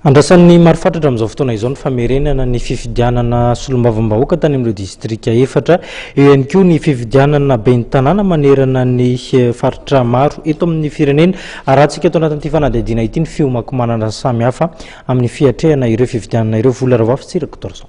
Andrasan'ny maro fatratra amin'izao fotoana izao ny famerenana ny fifidianana solombavambahoaka tany amin'ireo distrika efatra. Eo ihany koa ny fifidianana ben'ny tanàna manerana ny faritra maro eto amin'ny firenena. Arahantsika eto anatin'ity fanadihadiana ity ny fiomankomanana samihafa amin'ny fiatrehana ireo fifidianana ireo. Vola Ravoafy sy Rakotoarison.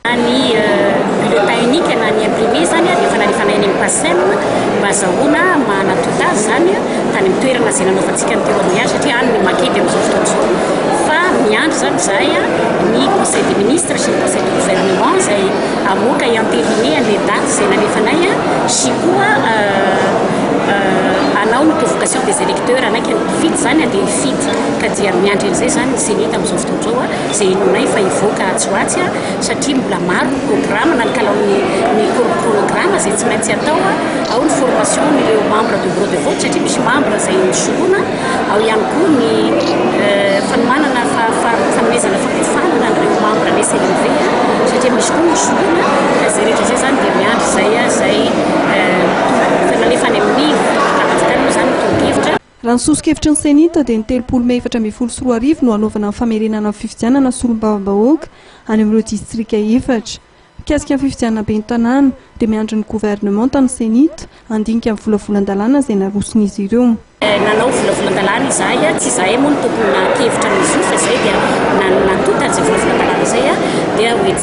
Na ny bulletin unique na ny imprimé izany dia efa nalefana eny amin'ny PACEM mba hazahoana manatota azy izany tany amin'ny toerana izay nanaovantsika ny témoignage satria any no makety amin'izao fotoana izao fa miandry izany izahay ny conseil des ministres sy ny conseil du gouvernement izay hamoaka hi-entériner an'ilay daty izay nalefanay sy koa hanao ny convocation des électeurs hanaiky ny mpifidy izany dia hifidy ka dia miandry an'izay izany ny ceni tamin'izao fotoana izao izay henoinay fa hivoaka atsy ho atsy satria mbola maro ny programa na ny kalaon'ny programa izay tsy maintsy atao ao ny formation ireo membre de bureau de vote satria misy membre izay misoloana ao ihany koa ny euh, fanomanana fanomezana fampiofanana an'ireo membre ny CNV satria misy koa ny soloana ka izay rehetra izay izany dia miandry izay izay euh, tonga nalefa any amin'ny Raha ny soso-kevitry ny Cenit dia ny telopolo mey efatra ambin'ny folo sy roa arivo no hanaovana ny famerenana ny fifidianana solombavambahoaka any amin'ireo distrika efatra. Mikasika ny fifidianana ben'ny tanàna dia miandry ny governemanta ny Cenit handinika ny volavolan-dalàna izay naroson'izy ireo. Nanao volavolan-dalàna izahay, tsy izahay moa no tokony naha-kevitra ny soso fa izay dia nantonta izay volavolan-dalàna izay dia hoe.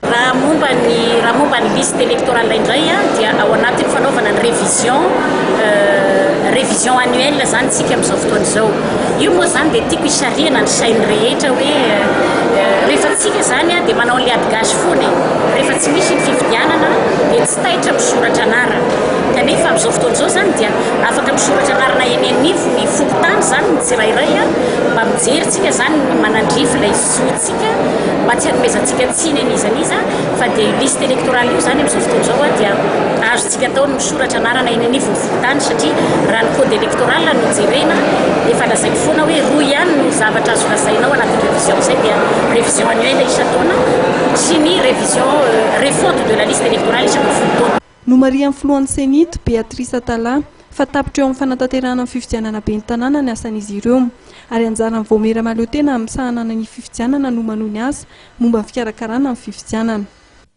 Raha momba ny raha momba ny liste electorale indray dia ao anatin'ny fanaovana ny révision révision annuelle izany isika amin'izao fotoana izao. Io moa izany dia tiako hisarihana ny sain'ny rehetra hoe rehefa tsika izany dia manao an'ilay adigasy foana e, rehefa tsy misy ny fifidianana dia tsy taitra misoratra anarana. Kanefa amin'izao fotoana izao izany dia afaka misoratra anarana eny anivon'ny fokontany izany ny tsirairay mba mijery tsika izany ny manandrify ilay zo. Tsika mba tsy hanomezantsika tsiny an'iza n'iza fa dia io liste électorale io izany amin'izao fotoana izao a dia azontsika atao ny misoratra anarana eny anivon'ny fokontany satria raha ny code électoral no jerena efa lazaiko foana hoe roa ihany no zavatra azo lazaina ao anatin'ny révision izay dia révision annuelle isan-taona sy ny révision refonte de la liste électorale isaka folo taona. Nomarihan'ny filohan'ny Cenit, Béatrice Atala, fa tapitra eo amin'ny fanatanterahana ny fifidianana ben'ny tanàna ny asan'izy ireo, ary anjaran'ny Vaomiera mahaleo tena amin'ny sahanana ny fifidianana no manohy ny asa momba ny fikarakarana ny fifidianana.